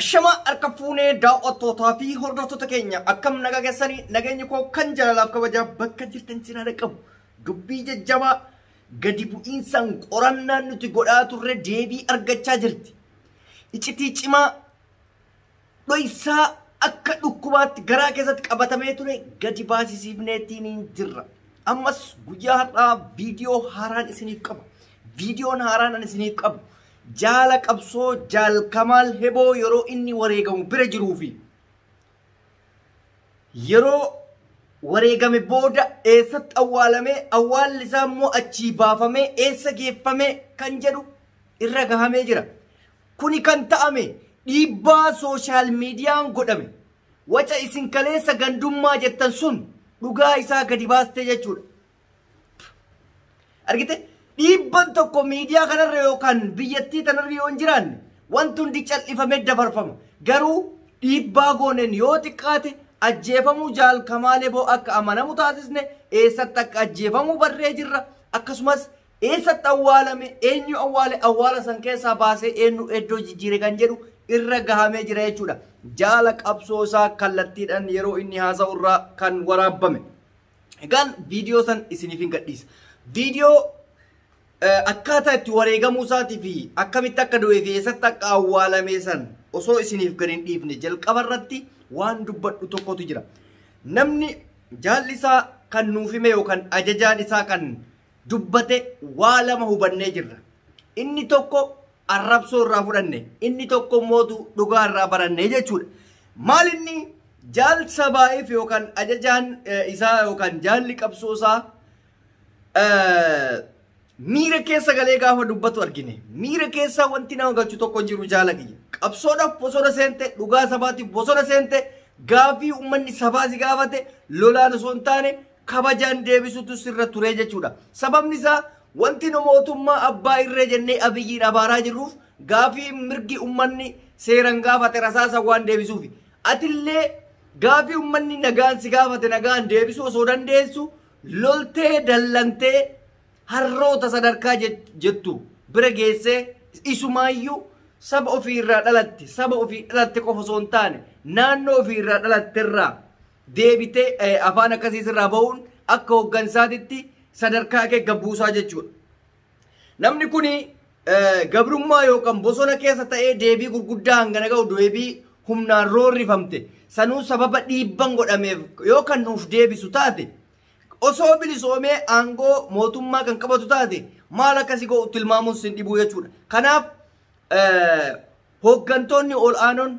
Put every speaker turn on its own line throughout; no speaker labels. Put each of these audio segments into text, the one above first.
Shama harka fuunee daawwattootaa fi hordoftoota keenya akkam naga keessanii nageenyi koo kan jaalalaaf kabajaa bakka jirtan sinaa dhaqqabu dubbii jajjabaa gadi bu'iinsaan qorannaan nuti godhaa turre deebii argachaa jirti. Icitii cimaa dho'isaa akka dhukkubaatti garaa keessatti qabatamee ture gadi baasisiifneetiin hin jirra. Ammas guyyaa har'aa viidiyoo haaraan isiniif qaba. Viidiyoon haaraan ani isiniif qabu Jaala qabsoo Jaal Kamaal Heboo yeroo inni wareegamu bira jiruu fi yeroo wareegame booda eessatti awwaalame awwaalli isaa immoo achii baafamee eessa geeffame kan jedhu irra gahamee jira. Kuni kan ta'ame dhiibbaa sooshaal miidiyaan godhame. Waca isin kaleessa gandummaa jettan sun dhugaa isaa gadi baaste jechuudha. argite dhiibban tokko miidiyaa kanarra yookaan biyyattii tanarra yoo hin jiraanne wanti hundi cal'ifamee dabarfama garuu dhiibbaa gooneen yoo xiqqaate ajjeefamuu jaal kamaalee boo akka amanamu taasisne eessatti akka ajjeefamuu barree jirra akkasumas eessatti awwaalame eenyu awwaale awwaala san keessaa baasee eenyu iddoo jijjiire kan jedhu irra gahamee jira jechuudha jaala qabsoo isaa kallattiidhaan yeroo inni haasa'u irraa kan waraabame. Egaan viidiyoo san isiniifin gadhiisa. Viidiyoo akkaataa itti wareegamuu isaatii fi akkamitti akka du'ee fi eessatti akka awwaalamee san osoo isiniif gad hin dhiifne jalqaba irratti waan dubbadhu tokkotu jira. Namni jaalli isaa kan nuuf hime yookaan ajajaan isaa kan dubbate waa lama hubannee jirra. Inni tokko arrabsoo irraa fudhanne, inni tokko mootu dhugaa irraa baranne jechuudha. Maal inni jaal sabaa'if yookaan ajajaan eh, isaa yookaan jaalli qabsoo isaa eh, miira keessa galee gaafa dubbatu argine. Miira keessa wanti nama galchu tokko hin jiru jaala kiyya. Qabsoodhaaf bosona seente, dhugaa sabaatiif bosona seente, gaafii uummanni sabaa si gaafate, lolaan osoo hin taane, kabajaan deebisutu sirra turee jechuudha. Sababni isaa wanti nu mootummaa abbaa irree jennee abiyyiin abaaraa jirruuf gaafii mirgi ummanni seeran gaafate rasaasa waan deebisuufi. Atillee gaafii ummanni nagaan si gaafate nagaan deebisuu osoo dandeessu loltee dallantee harroota sadarkaa jettu bira geessee isumaayyuu saba ofii irraa dhalatte saba ofii dhalatte qofa osoo hin taane naannoo ofii irraa dhalatte irraa deebitee eh, afaan akkasii sirraa ba'uun akka hoggansaatitti sadarkaa kee gabbuusaa jechuudha. Namni kun gabrummaa yookaan bosona keessa ta'ee deebii gurguddaa hangana ga'u deebii humnaan roorrifamte sanuu sababa dhiibban godhameef yoo kan nuuf deebisu taate osoo bilisoomee aangoo mootummaa kan qabatu taate maal akkasi ga'u tilmaamuun sin dhibuu jechuudha. Kanaaf eh, hooggantoonni ol aanoon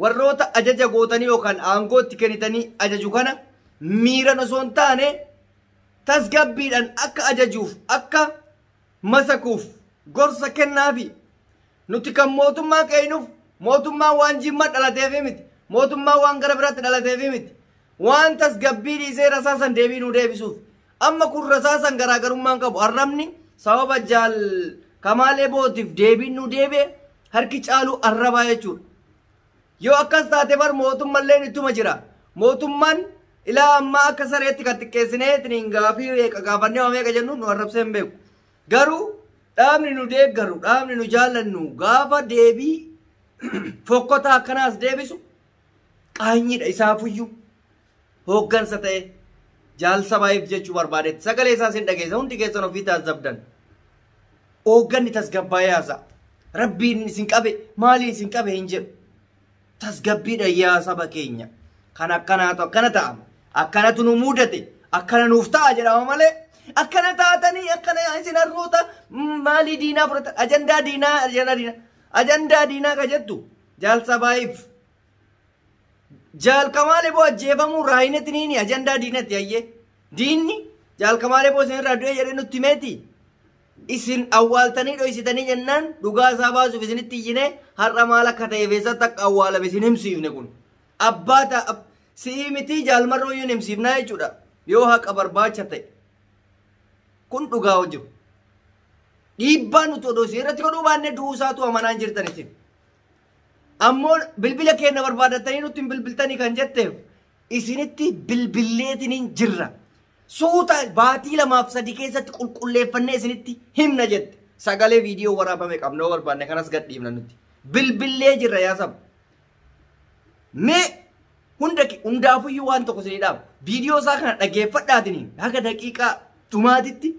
Warroota ajaja gootanii yookaan aangoo itti kennitanii ajaju kana miiran osoo hin taane tasgabbiidhaan akka ajajuuf akka masakuuf gorsa kennaafi. Nuti kan mootummaa qeeynuuf mootummaan waan jimma dhalateefi miti. Mootummaan waan gara biraatti dhalateefi miti. Waan tasgabbii dhiisee rasaasan deebii nuu deebisuuf. Amma kun rasaasan garaagarummaan qabu arrabni sababa jaal Kamaal Ebootiif deebiin nu deebi'e harki caaluu arrabaa jechuudha. Yoo akkas taate bar mootummalleen ittuma jira. Mootummaan ilaa ammaa akka sareetti kan xiqqeessinee ittiin gaafii meeqa gaafannee waa meeqa jennu nu arrabsee hin beeku. Garuu dhaabni nu deeggaru dhaabni nu jaallannu gaafa deebii fokkotaa akkanaas deebisu qaanyiidha isaafuyyuu. hooggansa ta'e jaal sabaayiif jechuu barbaadetti sagalee isaa sin dhageessa hundi keessan ofii taasisabdan hoogganni tasgabbaa'ee haasa'a rabbiin isin qabe maaliin isin qabe hin jedhu tasgabbiidha yaa saba keenya kan akkanaatu akkana ta'a akkanatu nu muudate akkana nuuf ta'a jedhama malee akkana taatanii akkana isin harroota maalii diinaa fudhatan ajandaa diinaa ajandaa diinaa ajandaa diinaa ka jettu jaal sabaayiif Jaal Kamaal Eboo ajjeefamuu raayinati niini ajandaa diinatti hayyee. Diinni Jaal Kamaal Eboo isinirraa du'ee jedhee nutti himeeti. Isin awwaaltanii dhoysitanii jennaan dhugaa isaa baasuuf isinitti iyyine har'a maal akka ta'eef eessatti akka awwaalame isin himsiifne kun. Abbaa ta'a si'ii mitii jaalmarroo iyyuu hin himsiifnaa jechuudha. Yoo haqa barbaacha ta'e. Kun dhugaa jiru. Dhiibbaa nuti odoo isin irratti godhuu baannee du'uu isaatu amanaan jirtan isin. Ammoo bilbila keenna barbaadattanii nutti hin bilbiltanii kan jetteef isinitti bilbilleetiniin jirra. Suuta baatii lamaaf sadii keessatti qulqulleeffannee isinitti himna jette. Sagalee viidiyoo waraabame qabna yoo barbaanne kanas gadhiifna nuti. Bilbillee jirra yaa saba. Mee hunda hundaafuyyuu waan tokko isinii dhaama. Viidiyoo isaa kana dhageeffadhaatiniin haga daqiiqaa dhumaatitti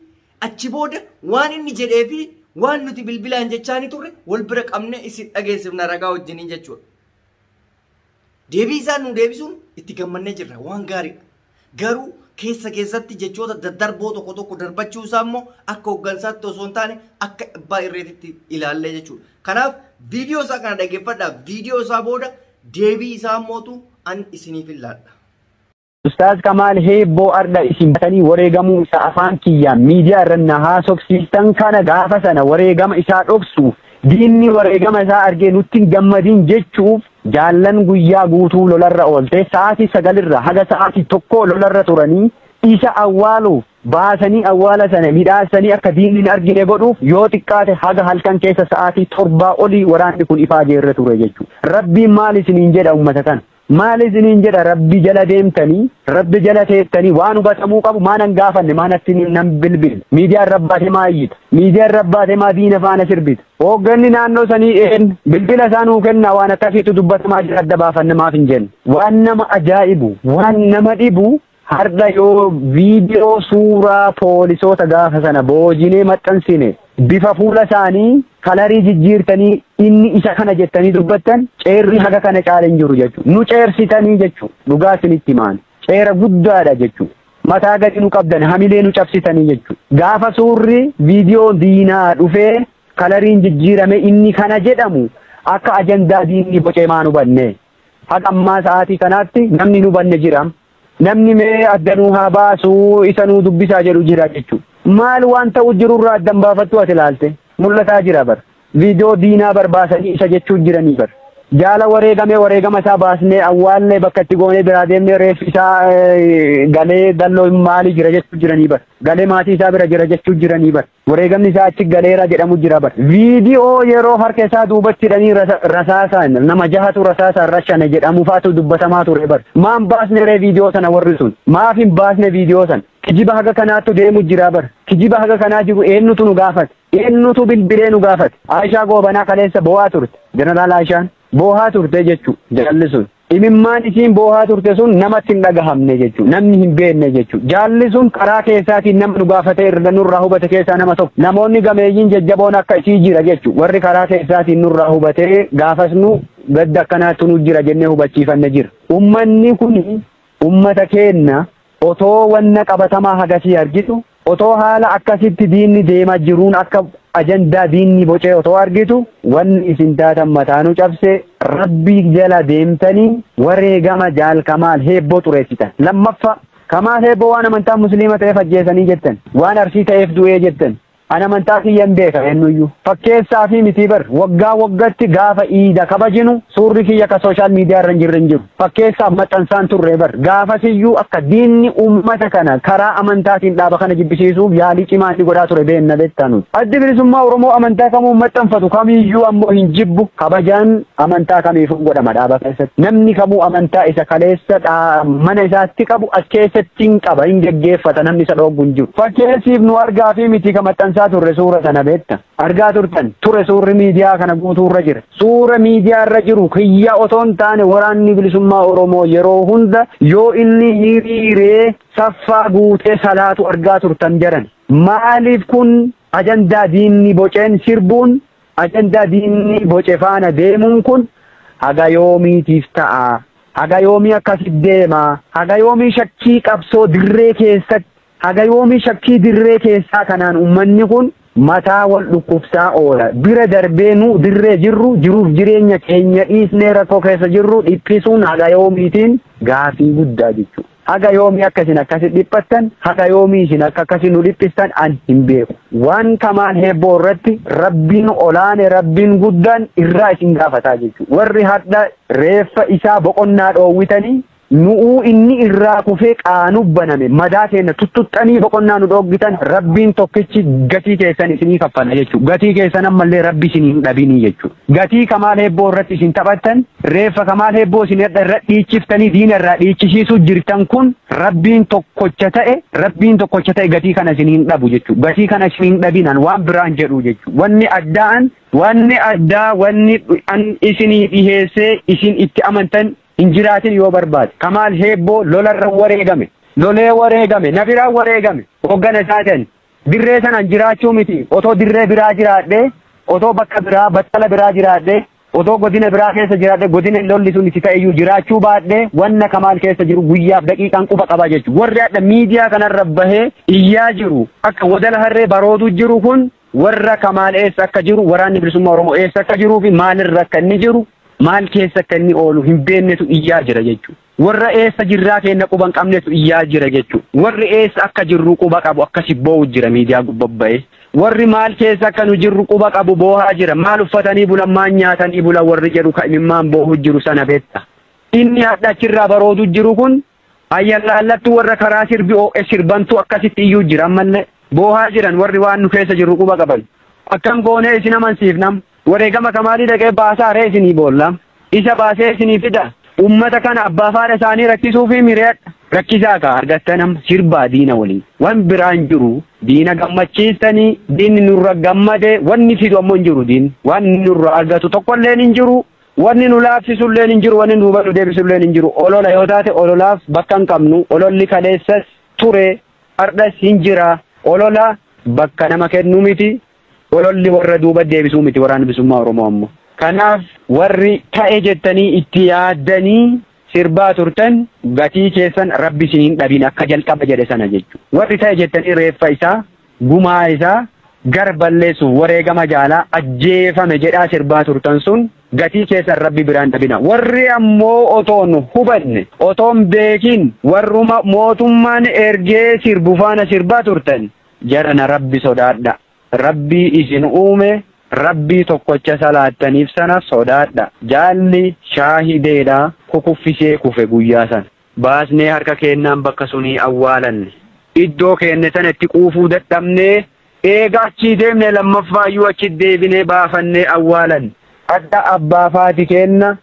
Achi booda waan inni jedhee fi waan nuti bilbilaan jechaanii turre wal bira qabnee isin dhageessifna ragaa wajjiniin jechuudha. Deebii isaa nu deebisuun itti gammannee jirra waan gaariidha. Garuu keessa keessatti jechoota daddarboo tokko tokko darbachuu isaa immoo akka hooggansaatti osoo hin taane akka abbaa irreetitti ilaallee jechuudha. Kanaaf viidiyoo isaa kana dhaggeeffadhaa viidiyoo isaa booda deebii isaa mootu an isiniif ilaalladha. Ustaaz
Kamaal Heebboo Ardha isin batanii wareegamuu isaa afaan kiyyaan miidiyaa irra na haasofsiistan kana gaafa sana wareegama isaa dhoksuuf diinni wareegama isaa argee nutti hin gammadin jechuuf jaallan guyyaa guutuu lolarra oolte sa'aatii sagalirra haga sa'aatii tokko lolarra turanii isa awwaaluuf baasanii awwaala sana midhaassanii akka diinni hin argine godhuuf yoo xiqqaate haga halkan keessa sa'aatii torbaa olii waraanni kun ifaa jeerra ture jechuudha. Rabbiin maal isiniin jedha uummata kana? Maal isiniin jedha rabbi jala deemtanii rabbi jala teettanii waan hubatamuu qabu maa nan gaafanne maa natti nan bilbille miidiyaa irra baatee maa iyyita miidiyaa irra baatee maa diina faana sirbita hoogganni naannoo sanii een bilbila isaa nuu kennaa waan akkasiitu dubbatamaa jira adda baafanne maaf hin jenne waan nama ajaa'ibu waan nama dhibu Har'a yoo viidiyoo suuraa poolisoota gaafa sana boojinee maxxansine bifa fuula isaanii kalarii jijjiirtanii inni isa kana jettanii dubbattan ceerri haga kana caale hin jiru jechuudha. Nu ceersitanii jechuudha. Dhugaa isinitti himaan. Ceera guddaadha jechuudha. Mataa gadi nu qabdan hamilee nu cabsitanii jechuudha. Gaafa suurri viidiyoo diinaa dhufee kalariin jijjiirame inni kana jedhamu akka ajandaa diinni bocee maan hubanne. Haga ammaa sa'aatii kanaatti namni hin hubanne jira. Namni mee adda nuu haa baasu isa nuu dubbisaa jedhu jira jechuudha. Maal waan ta'u jirurraa adda hin baafattu ati ilaalte. Mul'ataa jira bar. Viidiyoo diinaa bar baasanii isa jechuu jiranii bar. Jaala wareegamee wareegama isaa baasnee awwaallee bakka itti goonee biraa deemnee reeffi isaa galee dalloo maalii jira jechuu jiranii bar. Galee maatii isaa bira jira jechuu jiranii bar. Wareegamni isaa achi galeera jedhamu jira bar. Viidiyoo yeroo harka isaa duubatti hidhanii rasa- rasaasaan nama jahatu rasaasaan rashane jedhamu faatu dubbatamaa ture bar. Maan baasne ree viidiyoo sana warri sun? Maaf hin baasne viidiyoo sana? Kijiba haga kanaattu deemu jira bar. Kijiba haga kanaa jiru eenyutu nu gaafate? Eenyutu bilbilee nu gaafate? Aayishaa Goobanaa kaleessa boo'aa turte. Jeneraal Aayishaan boo'aa turte jechuu jaalli sun. Imimmaan isiin boohaa turte sun namatti hin dhagahamne jechuudha. Namni hin beekne jechuudha. Jaalli sun karaa keessaatiin nama nu gaafate irra nurraa hubate keessaa nama tokko. Namoonni gameeyyiin jajjaboon akka isii jira jechuudha. Warri karaa keessaatiin nurraa hubatee gaafas nu gadda akkanaattu nu jira jennee hubachiifanne jira. Ummanni kun ummata keenna Otoo wanna qabatamaa hagasii argitu, otoo haala akkasitti diinni deema jiruun akka ajandaa diinni bocee otoo argitu, wanni isin taatan mataanu cabse, Rabbii jala deemtanii wareegama Jaal Kamaal Heebboo xureessitan. Lammaffaa, Kamaal Heebboo waan amantaan Musliima ta'eef ajjeesanii jettan, waan Arsii ta'eef du'ee jettan, An amantaa kiyyan beeka eennuyyuu fakkeessaa fi mitii bar waggaa waggatti gaafa iida kabajinu suurri kiyya ka sooshaal miidiyaa irra hin jirre hin jiru fakkeessaaf maxxansaan turre bar gaafasiyyuu akka diinni uummata kana karaa amantaatiin dhaaba kana jibbisiisuuf yaalii cimaa inni godhaa ture beenna beektaa nuti addi bilisummaa oromoo amantaa kamuu maxxanfatu kamiyyuu ammoo hin jibbu kabajaan Amantaa kamiifuu godhama dhaaba keessatti. Namni kamuu amantaa isa kaleessa dhaa- mana isaatti qabu as keessatti hin qaba, hin geggeeffata, namni isa dhooggu hin jiru. Fakkeessiif nu argaa fi miti ka maxxansaa turre suura sana beekta. Argaa turtan ture suurri miidiyaa kana guutuu irra jira. Suura miidiyaa irra jiru kiyya otoo hin taane waraanni bilisummaa Oromoo yeroo hunda yoo inni hiriiree saffaa guutee salaatu argaa turtan jedhan. Maaliif kun ajandaa diinni boceen sirbuun Ajandaa diinni boce faana deemuun kun haga yoomiitiif ta'a? Haga yoomii akkasi deema? Haga yoomii shakkii qabsoo dirree keessatti, haga yoomii shakkii dirree keessaa kanaan ummanni kun mataa wal dhukkubsaa oola? Bira darbee nu dirree jirru jiruuf jireenya keenya dhiisnee rakkoo keessa jirru dhiphisuun haga yoomiitiin gaafii guddaa jechuudha. Haga yoomii akka isin akkasi dhiphattan, haga yoomii isin akka akkasi nu dhiphistan an hin beeku. Waan kamaan heebboo irratti Rabbiin olaane, Rabbiin guddaan irraa isin gaafataa jechu. Warri hardha reeffa isaa boqonnaa dhoowwitanii nu'uu inni irraa kufee qaanuf baname madaa keenna tuttuxxanii boqonnaa nu dhooggitan Rabbiin tokkichi gatii keessan isinii kaffala jechu. Gatii keessan ammallee Rabbi isin hin dhabinii jechu. Gatii kamaal heebboo irratti isin taphattan Reeffa Kamaal Heebboo isin hadha irra dhiichiftanii diina irraa dhiichisiisuu jirtan kun rabbiin tokkocha ta'e rabbiin tokkocha ta'e gatii kana isin hin dhabu jechuudha. Gatii kana isin hin dhabinaan waan biraan jedhu jechuudha. Wanni addaan wanni addaa wanni an isinii dhiheessee isin itti amantan hin jiraatin yoo barbaade. Kamaal Heebboo lolarra wareegame. Lolee wareegame. Na biraa wareegame. Hoggana isaatiin. Dirree sanaan jiraachuu miti. Otoo dirree biraa jiraadhee otoo bakka biraa battala biraa jiraadhee Otoo godina biraa keessa jiraadhe godina lolli sun itti ta'eyyuu jiraachuu baadhe wanna kamaal keessa jiru guyyaaf daqiiqaan quba qabaa jechu. Warri hadha miidiyaa kanarra bahee iyyaa jiru akka wadala harree barooduu jiru kun warra kamaal eessa akka jiru waraanni bilisummaa Oromoo eessa akka jiruu fi maalirra akka inni jiru maal keessa akka inni oolu hin beeknetu iyyaa jira jechuudha. Warra eessa jirraa keenna quba hin qabnetu iyyaa jira jechu. Warri eessa akka jirru quba qabu akkasi boo'u jira miidiyaa gubba ba'ee. Warri maal keessa akka nu jirru quba qabu boohaa jira. Maal uffatanii bulan maal nyaatanii bulan warri jedhu ka imimmaan boohu jiru sana beekta. Inni hadha achirraa baroodu jiru kun ayyallaallattu warra karaa sirbi oo'e sirbantu akkasitti iyyuu jira ammallee. Boohaa jiran warri waan nu keessa jirru quba qaban. Akkam goonee isin amansiifnam. Wareegama kamaalii dhaqee baasaa ree isinii boolla isa baasee isinii fida ummata kana abbaa faadha isaanii rakkisuufii miriyadha rakkisaa kaa argattan amma sirbaa diina waliin wan biraa hin jiru diina gammachiistanii diinni nurra gammade wanni fidu ammoo hin jiru diinni wanni nurra argatu tokkolleen hin jiru wanni nu laaffisulleen hin jiru wanni duuba nu deebisulleen hin jiru olola yoo taate ololaaf bakka hin qabnu ololli kaleessas ture hardhas hin jira olola bakka nama kennu miti Ololli warra duuba deebisuu miti Waraanni Bilisummaa Oromoo ammo. Kanaaf warri ta'e jettanii itti yaaddanii sirbaa turtan gatii keessan Rabbi isin hin dhabin akka jalqaba jedhe sana jechuudha. Warri ta'e jettanii reeffa isaa, gumaa isaa gar balleessuuf wareegama jaalaa ajjeefame jedhaa sirbaa turtan sun gatii keessan Rabbi biraa hin dhabina. Warri ammoo otoon hubanne, otoon beekin warruma mootummaan ergee sirbu faana sirbaa turtan jarana rabbi sodaadha rabbii isin uume rabbii tokkocha salaattaniif sana sodaadha jaalli shaahideedha kukuffisee kufe guyyaa sana baasnee harka keennaan bakka sunii awwaalanne iddoo keenne sana itti quufuu dadhabnee eega achii deemne lammaffaayyuu achi deebinee baafannee awwaalanne hadha abbaa faati keenna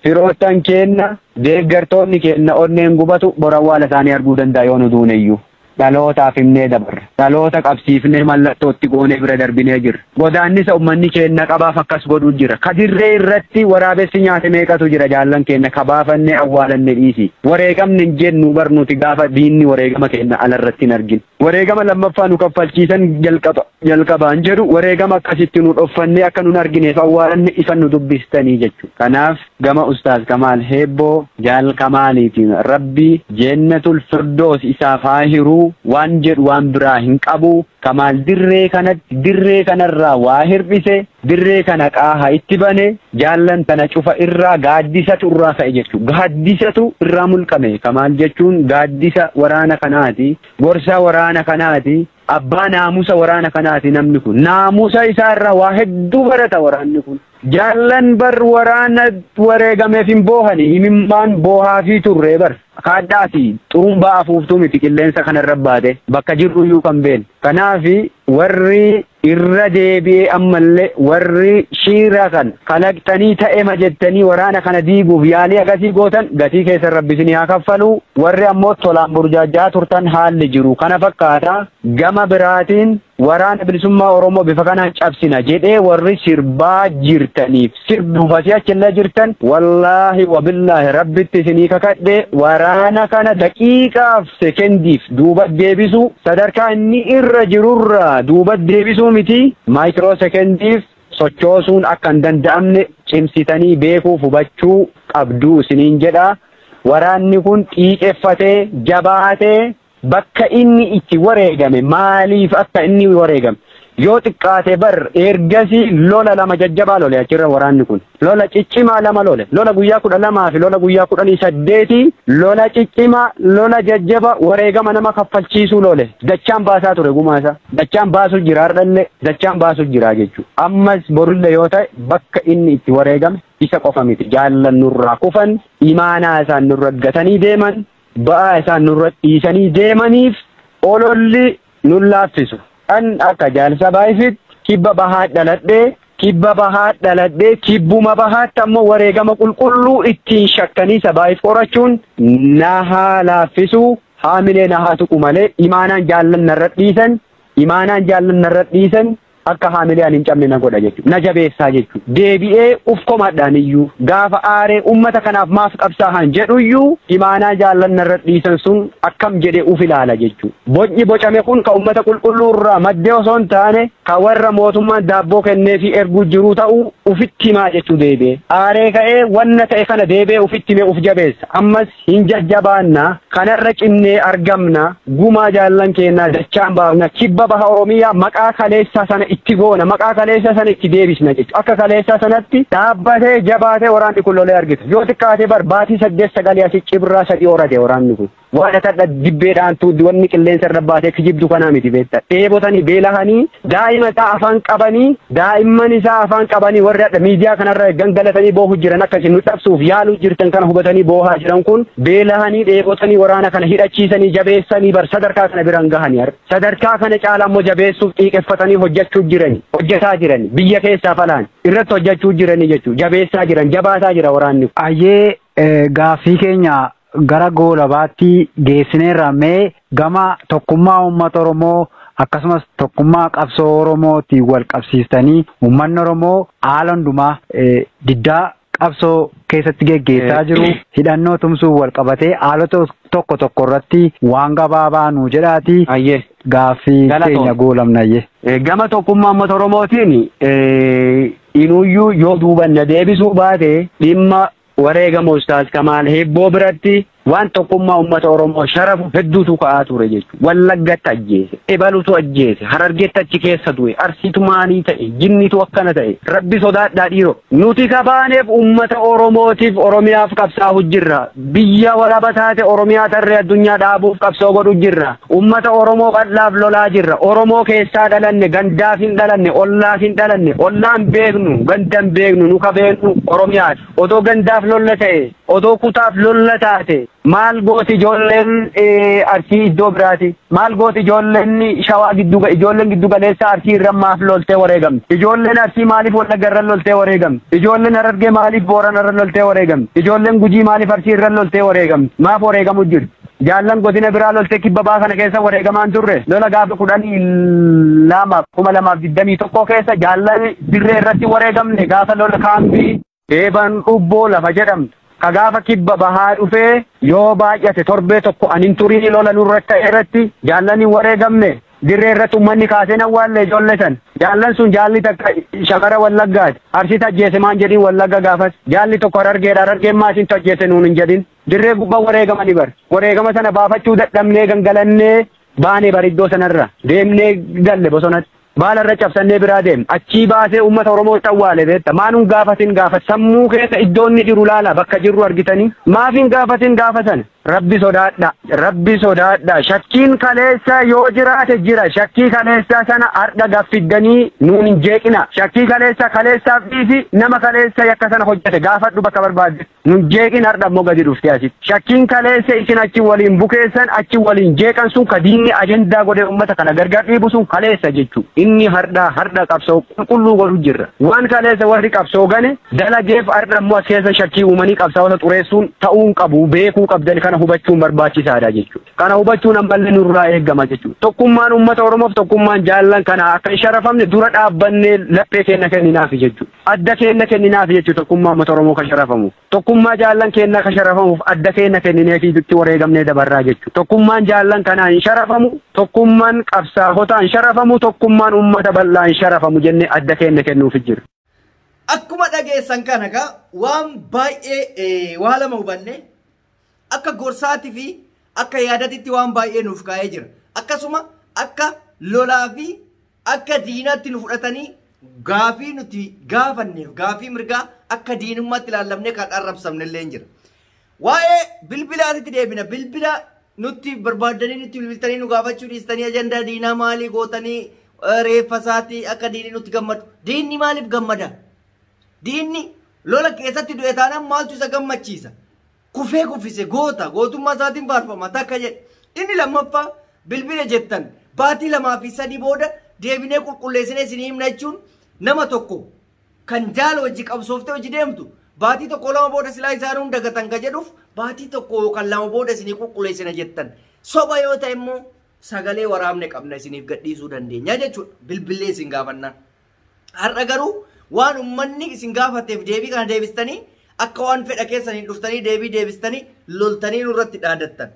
Firoottan keenna, deeggartoonni keenna onneen gubatu bor awwaala isaanii arguu danda'a yoo nu duuneyyuu. Dhalootaaf himnee dabarra. Dhaloota qabsiifnee mallattoo itti goonee bira darbinee jirra. Godaannisa ummanni keenna qabaaf akkas godhu jira. Ka dirree irratti waraabessi nyaate meeqatu jira jaallan keenna ka baafannee awwaalanne dhiisii. Wareegamne hin jennu bar nuti gaafa diinni wareegama keenna ala irratti hin argin. Wareegama lammaffaa nu kaffalchiisan jalqaba jalqabaan jedhu wareegama akkasitti nu dhoffannee akka nun argineef awwaalanne isan nu dubbistanii jechuudha. Kanaaf gama Ustaaz Kamaal Heebboo Jaal Kamaaliitiin Rabbi Jeennatul Firdoos isaaf haa hiru waan jedhu waan biraa hin qabu. Kamaal dirree kanatti dirree kanarraa waa hir'ise Dirree kana qaaha itti bane, jaallan tana cufa irraa gaaddisatu irraa ka'e jechuudha. Gaaddisatu irraa mulqame. Kamaal jechuun gaaddisa waraana kanaati. Gorsaa waraana kanaati. Abbaa naamusa waraana kanaati namni kun. Naamusa isaa irraa waa hedduu barata waraanni kun. Jaallan bar waraana wareegameef hin boohani. Imimmaan boohaafii turre bar. Kaadhaa fi xurumbaa afuuftuu miti qilleensa kanarra baate. Bakka jirru iyyuu kan beeknu. Kanaaf warri Irra deebi'ee ammallee warri shiira kan kalaqxanii ta'ema jettanii waraana kana diiguuf yaalii akkasii gootan gatii keessan rabbi isinii haa kaffalu warri ammoo tolaan burjaajja'aa turtan haalli jiru kana fakkaata gama biraatiin waraana bilisummaa oromoo bifa kanaan cabsina jedhee warri sirbaa jirtaniif sirbuufasii achillee jirtan wallaahi wabillaahi rabbitti isinii kakadhe waraana kana daqiiqaaf sekendiif duuba deebisuu sadarkaa inni irra jirurraa duuba deebisuu miti maayikiroo sekendiif sochoosuun akka hin danda'amne cimsitanii beekuuf hubachuu qabduu isiniin jedha. Waraanni kun xiiqeffatee jabaatee bakka inni itti wareegame maaliif akka inni wareegame Yoo xiqqaate bar ergasii lola lama jajjabaa lole achirra waraanni kun. Lola ciccimaa lama lole. Lola guyyaa kudha lamaa fi lola guyyaa kudhanii saddeetii lola ciccimaa lola jajjaba wareegama nama kaffalchiisuu lole. Dachaan baasaa ture gumaa isaa. Dachaan baasu jira hardhallee dachaan baasu jira jechuudha. Ammas borullee yoo ta'e bakka inni itti wareegame isa qofa miti. Jaallan nurraa kufan, imaanaa isaan nurra gatanii deeman, ba'aa isaan nurra dhiisanii deemaniif ololli nun laaffisu. An akka jaarsa Baayfiitti kibba bahaat dhaladhe, kibba bahaat dhaladhe, kibbuma bahaatti ammoo wareegama qulqulluu ittiin shakkaniisa Baayf qorachuun na haa laaffisu, haamilee na haa tuqu malee imaanaan jaallan narra dhiisan, imaanaan jaallan narra dhiisan. akka haamilee ani hin cabne na godha jechuudha. Na jabeessaa jechuudha. Deebi'ee uf komadhaan iyyuu gaafa aaree uummata kanaaf maaf qabsaahan jedhu iyyuu imaanaa jaallan narra dhiisan sun akkam jedhee uf ilaala jechuudha. Bocni bocame kun kan uummata qulqulluu irraa maddee osoo hin taane kan warra mootummaan daabboo kennee fi erguu jiruu ta'uu ufitti himaa jechuu deebi'ee. Aaree ka'ee wanna ta'e kana deebi'ee ufitti himee uf jabeessa. Ammas Hin jajjabaanna, kanarra cimnee argamna, gumaa jaallan keennaa dachaan baafna, kibba baha Oromiyaa maqaa kaleessaa sana itti goona, maqaa kaleessaa sana itti deebisna jechuudha. Akka kaleessaa sanatti dhaabbatee, jabaatee waraanni kun lolee argita. Yoo xiqqaate bar baatii saddeet sagalii asi cibraa sadii horate waraanni kun. Waan atadha dibbee dhaantuu wanni qilleensa irra baatee kijibdu kanaa miti beekta. Dheebotanii, beelahanii, daa'ima isaa afaan qabanii, Daa'imman isaa afaan qabanii warri hadha miidiyaa kanarra gangalatanii boohu jiran akka isin nu cabsuuf yaaluu jirtan kana hubatanii boohaa jiran kun beelahanii dheebotanii waraana kana hidhachiisanii jabeessanii bar sadarkaa kana biraan gahanii har sadarkaa kana caalaa immoo jabeessuuf xiiqeffatanii hojjechuu jirani hojjetaa jirani biyya keessaaf alaan irratti hojjechuu jiranii jechuu jabeessaa jiran jabaataa jira waraanni. Ayyee
Gaaffii keenya gara goolabaatti geessineerra mee gama tokkummaa uummata Oromoo akkasumas tokkummaa qabsoo Oromootiin wal qabsiistanii uummanni Oromoo haala hundumaa diddaa qabsoo keessatti geggeessaa jiru hidhannoo tumsuun wal qabatee haalota tokko tokko irratti waan gabaabaa nuu jedhaati gaaffii keenya goolabnayyee. Gama tokkummaa
uummata Oromootiin Inuyyuu yoo duuba na deebisuu baate dhimma wareegama Ustaaz Kamaal Hibboo biratti waan tokkummaa uummata Oromoo sharafu hedduutu ka'aa ture jechuudha. Wallaggatti ajjeese, ebalutu ajjeese, Harargetti achi keessa du'e, Arsiitu maalii ta'e, jinnitu akkana ta'e, Rabbi sodaadhaa dhiiroo. Nuti ka baaneef uummata Oromootiif, Oromiyaaf qabsaa'u jirra. Biyya walaba taate Oromiyaa tarree addunyaa dhaabuuf qabsoo godhu jirra. Ummata Oromoo bal'aaf lolaa jirra. Oromoo keessaa dhalanne, gandaaf hin dhalanne, ollaaf hin dhalanne, ollaan beeknu, gandan beeknu, nu ka beeknu Oromiyaati. Otoo gandaaf lolla ta'e, otoo kutaaf lolla taate maal gooti ijoolleen Arsii iddoo biraati? Maal gooti ijoolleen shawaa giddu ijoolleen giddu galeessaa arsii irra maaf loltee wareegamte? Ijoolleen arsii maaliif wallagga irra loltee wareegamte? Ijoolleen harargee maaliif boorana irra loltee wareegamte? Ijoolleen gujii maaliif arsii irra loltee wareegamte? Maaf wareegamu jirti? Jaallan godina biraa loltee kibba baa kana keessa wareegamaan turre lola gaafa kudhanii lama kuma lamaaf digdamii tokkoo keessa jaallan dirree irratti wareegamne gaafa lola kaambii Eebaan Dhubboo lafa jedhamtu ka gaafa kibba bahaa dhufee yoo baay'ate torbee tokko an hin turinii lola nurra ka'e irratti jaallan hin wareegamne. Dirree irratti ummanni kaasee hin awwaalle ijoolle san. Jaallan sun jaalli takka shamara Wallaggaati. Arsiitu ajjeese maan jedhin Wallagga gaafas. Jaalli tokko Harargeedha Harargeen maa isintu ajjeese nuun hin jedhin. Dirree gubba wareegamani bar. Wareegama sana baafachuu dadhabnee gangalannee. Baane bar iddoo sanarra deemnee galle bosonatti. Baala irra cabsannee biraa deemne. Achii baasee uummata Oromoo awwaale beekta. Maa nun gaafatin gaafas. Sammuu keessa iddoo inni jiru laala bakka jirru argitanii. Maaf hin gaafatin gaafa sana. Rabbi sodaadha. Rabbi sodaadha. Shakkiin kaleessaa yoo jiraate jira. Shakkii kaleessaa sana har'a gaffiddanii nuun hin jeeqina. Shakkii kaleessaa kaleessaaf dhiisi nama kaleessa yakka sana hojjete gaafadhu bakka barbaadde. Nun jeeqin hardha immoo gadi dhuftee asitti. Shakkiin kaleessa isin achi waliin bukeessan achi waliin jeeqan sun ka diinni ajandaa godhee uummata kana gargar dhiibu sun kaleessa jechuu. Inni hardhaa hardha qabsoo qulqulluu godhu jirra. Waan kaleessa warri qabsoo gane dalageef hardha immoo as keessa shakkii uumanii qabsaa'ota xureessuun ta'uu hin qabu beekuu qabdan kana hubachuun barbaachisaadha jechuudha. Kana hubachuun ammallee nurraa eegama jechuudha. Tokkummaan uummata Oromoof tokkummaan jaallan kana akka hin sharafamne dura dhaabbannee laphee keenya kenninaafi jechuudha. Adda keenna kenninaaf jechu tokkummaa ummata Oromoo ka sharafamu. Tokkummaa jaallan keennaa ka sharafamuuf adda keenna kennineefii dutti wareegamnee dabarraa jechu. Tokkummaan jaallan kanaa hin sharafamu, tokkumman qabsaahotaa hin sharafamu, tokkummaan ummata bal'aa hin sharafamu jennee adda keenna kennuufi jirra. Akkuma
dhageessan kana egaa waan baay'ee waa lama hubanne. Akka gorsaati fi akka yaadatitti waan baay'ee nuuf kaa'ee jira. Akkasuma akka lolaa fi akka diinaatti nu fudhatanii gaafii nuti gaafanneef gaafii mirgaa akka diinummaatti ilaallamne kan arrabsamne illee jira. Waa'ee bilbilaatitti deebina. Bilbila nutti barbaaddanii nutti bilbiltanii nu gaafachuu dhiistanii ajandaa diinaa maalii gootanii reeffa isaatii akka diinni nutti gammadu. Diinni maaliif gammada? Diinni lola keessatti du'e taanaan maaltu isa gammachiisa? Kufee kuffise goota gootummaa isaatiin faarfama takka jedhe. Inni lammaffaa bilbila jettan baatii lamaa fi sadii booda deebinee qulqulleessinee isinii himna jechuun nama tokko kan jaala hojii qabsooftee hojii deemtu baatii tokko lama booda silaa isaan hunda gatan ka jedhuuf baatii tokko yookaan lama booda isinii qulqulleessina jettan soba yoo ta'e immoo sagalee waraabne qabna isiniif gadhiisuu dandeenya jechuudha bilbilee isin gaafannaan. Har'a garuu waan ummanni isin gaafateef deebii kana deebistanii akka waan fedha keessaniin dhuftanii deebii deebistanii loltanii nurratti dhaadattan.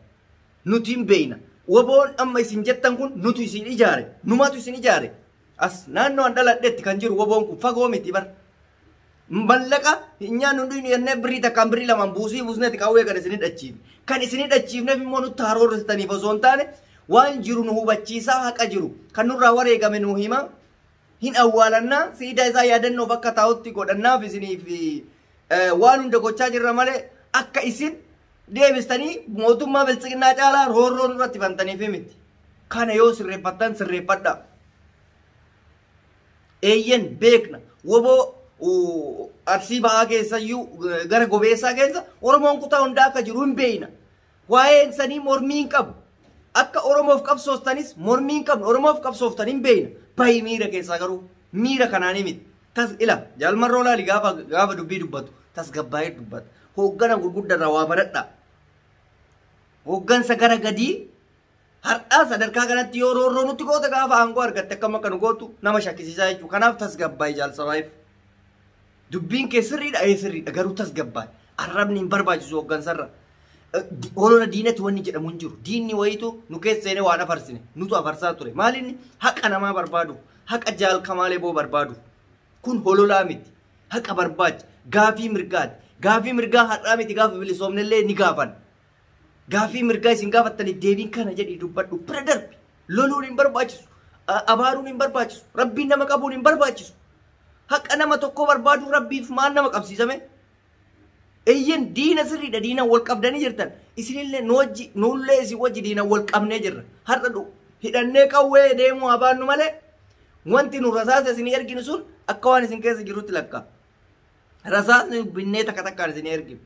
Nuti hin beeyna. Waboon amma isin jettan kun nutu isin ijaare. Numatu isin ijaare. As naannoo an dhaladhetti kan jiru waboon kun fagoo miti bar. Mallaqa hin nyaannu hin dhuynu jennee birrii takkaan birrii lamaan buusii buusneeti qawwee kan isin hidhachiifne. Kan isin hidhachiifneef immoo nutti haroorristaniif osoo hin taane waan jiru nu hubachiisaa haqa jiru kan nurraa wareegame nu hima hin awwaalannaa siidaa isaa yaadannoof akka taa'utti godhannaaf isiniif waan hunda gochaa jirra malee akka isin deebistanii mootummaa biltsiginnaa caalaa roorroo nurratti bantaniif miti. Kana yoo sirreeffattan sirreeffadha. Eeyyen beekna woboo arsii ba'aa keessayyuu gara gobeessaa keessa Oromoon kutaa hundaa akka jiru hin beekna. Waa'een isanii mormii hin qabu. Akka Oromoof qabsoostanis mormii hin qabnu. Oromoof qabsooftan hin beeyna. Bahi miira keessaa garuu miira kanaanii miti. Tas ila jaal marroo laali gaafa gaafa dubbii dubbatu tasgabbaa'ee dubbata. Hooggana gurguddarraa waa baradhaa. Hooggansa gara gadii Har'aa sadarkaa kanatti yoo roorroo nutti goote gaafa aangoo argatte akkam akka nu gootu nama shakkisiisaa jechuudha. Kanaaf tasgabbaa'e jaalsabaa'eef. Dubbiin kee sirriidha ee sirriidha garuu tasgabbaa'e. Arrabni hin barbaachisu hooggansarra. Olola diinatti wanni jedhamu hin jiru. Diinni wayiitu nu keessa seenee waan afarsine nutu afarsaa ture. Maalinni haqa namaa barbaadu haqa jaalkamaalee boo barbaadu. Kun hololaa miti. Haqa barbaacha. Gaafii mirgaati. Gaafii mirgaa har'aa miti gaafa bilisoomnellee ni gaafan. Gaaffii mirgaa isin gaafattaniif deebiin kana jedhii dubbadhu. Bira darbi. Loluun hin barbaachisu. A- Abaaruun hin barbaachisu. Rabbiin nama qabuun hin barbaachisu. Haqa nama tokkoo barbaaduu rabbiif maal nama qabsiisame? Eeyyen diina sirriidha diina wal qabdanii jirtan. Isinillee nu wajji nullee isin wajji diina wal qabnee jirra. Har'a dhu hidhannee qawwee deemuu haa baannu malee wanti nu rasaasa isin erginu sun akka waan isin keessa jirutti lakkaa. rasaasni binnee takka takkaan isin erginu.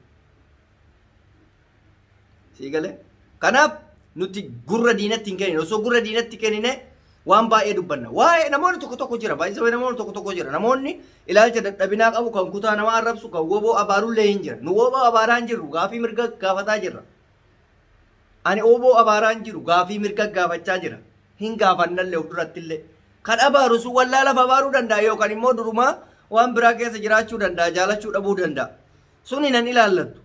Sii galee? Kanaaf nuti gurra diinatti hin kennine. Osoo gurra diinatti kennine waan baay'ee dubbanna. Waa'ee namoonni tokko tokko jira. Baay'isa waa'ee namoonni tokko tokko jira. Namoonni ilaalcha dadhabinaa qabu kan kutaa namaa arrabsu kan woboo abaarullee hin jira. Nu woboo abaaraa hin jirru. Gaafii mirga gaafataa jirra. Ani wbo abaaraa hin jiru, gaafii mirga gaafachaa jira. Hin gaafannallee of durattillee. Kan abaaru sun wallaalaaf abaaruu danda'a yookan immoo durumaa waan biraa keessa jiraachuu danda'a, jaalachuu dhabuu danda'a. Sun hinan ilaallattu.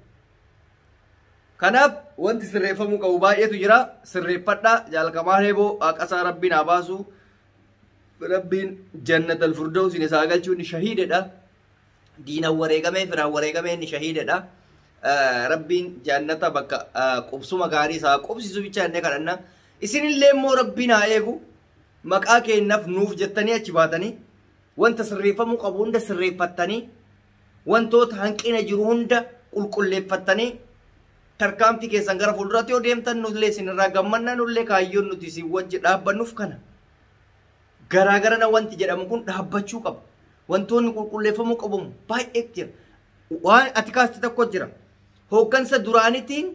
Kanaaf wanti sirreeffamuu qabu baay'eetu jira. Sirreeffadhaa jaal Kamaal Heeboo haqasaa Rabbiin haa baasu. Rabbiin jannatal firdawsiin isaa galchuu inni shahiidadha. diinan wareegamee firaan wareegamee inni shahiidadha. Rabbiin jaannata bakka qubsuma gaarii isaa qubsisu bicha jennee kadhanna. Isinillee immoo Rabbiin haa eegu maqaa keenyaaf nuuf jettanii achi baatanii wanta sirreeffamuu qabu hunda sirreeffattanii wantoota hanqina jiru hunda qulqulleeffattanii tarkaanfii keessan gara fuulduraatti yoo deemtan nullee isinirraa gammanna nullee kaayyoon nuti isin wajji dhaabbannuuf kana. garaagarana wanti jedhamu kun dhaabbachuu qaba. Wantoonni qulqulleeffamuu qabu baay'ee jira. Waan ati kaaste tokko jira. Hooggansa duraanitiin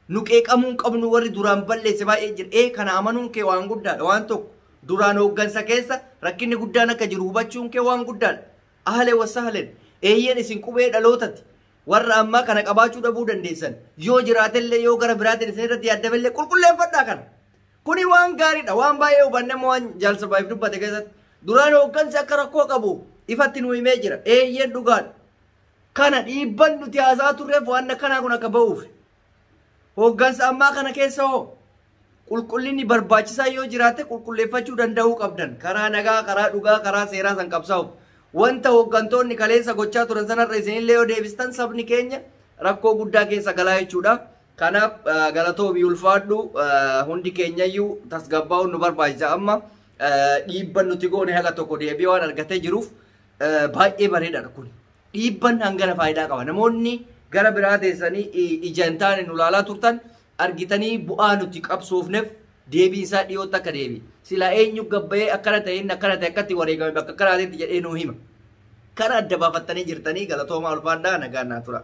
nu qeeqamuu hin qabnu warri duraan balleesse baay'ee jira. Ee kana amanuun kee waan guddaadha. Waan tokko duraan hooggansa keessa rakkinni guddaan akka jiru hubachuun kee waan guddaadha. Ahlee wasahleen eeyyeen isin qubee dhalootati. Warra ammaa kana qabaachuu dhabuu dandeessan. Yoo jiraatellee yoo gara biraatiin isin irratti yaaddamellee qulqulleeffadhaa kana. Kuni waan gaariidha. Waan baay'ee hubanne immoo waan Jaal Sarvaayiv dubbate keessatti duraan hooggansi akka rakkoo qabu ifatti nu himee jira. Eeyyeen dhugaadha. Kana dhiibban nuti haasaa turreef waan akkanaa kun akka ba'uuf. Hooggansa ammaa kana keessa hoo qulqullinni barbaachisaa yoo jiraate qulqulleeffachuu danda'uu qabdan. Karaa nagaa, karaa dhugaa, karaa seeraa san qabsaa'uuf. Wanta hooggantoonni kaleessa gochaa turan sanarra isinillee yoo deebistan sabni keenya rakkoo guddaa keessa galaa jechuudha. Kanaaf galatoomi ulfaadhu hundi keenyayyuu tasgabbaa'uun nu barbaachisa amma dhiibban nuti goone haga tokko deebi'ee waan argatee jiruuf baay'ee bareedaadha kun. Dhiibban hangana faayidaa qaba. Namoonni gara biraa teessanii ija hin taane nu laalaa turtan argitanii bu'aa nuti qabsoofneef deebiin isaa dhiyootti akka deebi. Silaa eenyu gabbayee akkana ta'e inni akkana ta'e akkatti wareegame bakka kanaatetti jedhee nuu hima. Kana adda baafattanii jirtanii galatoomaa ulfaadhaa nagaan naa tura.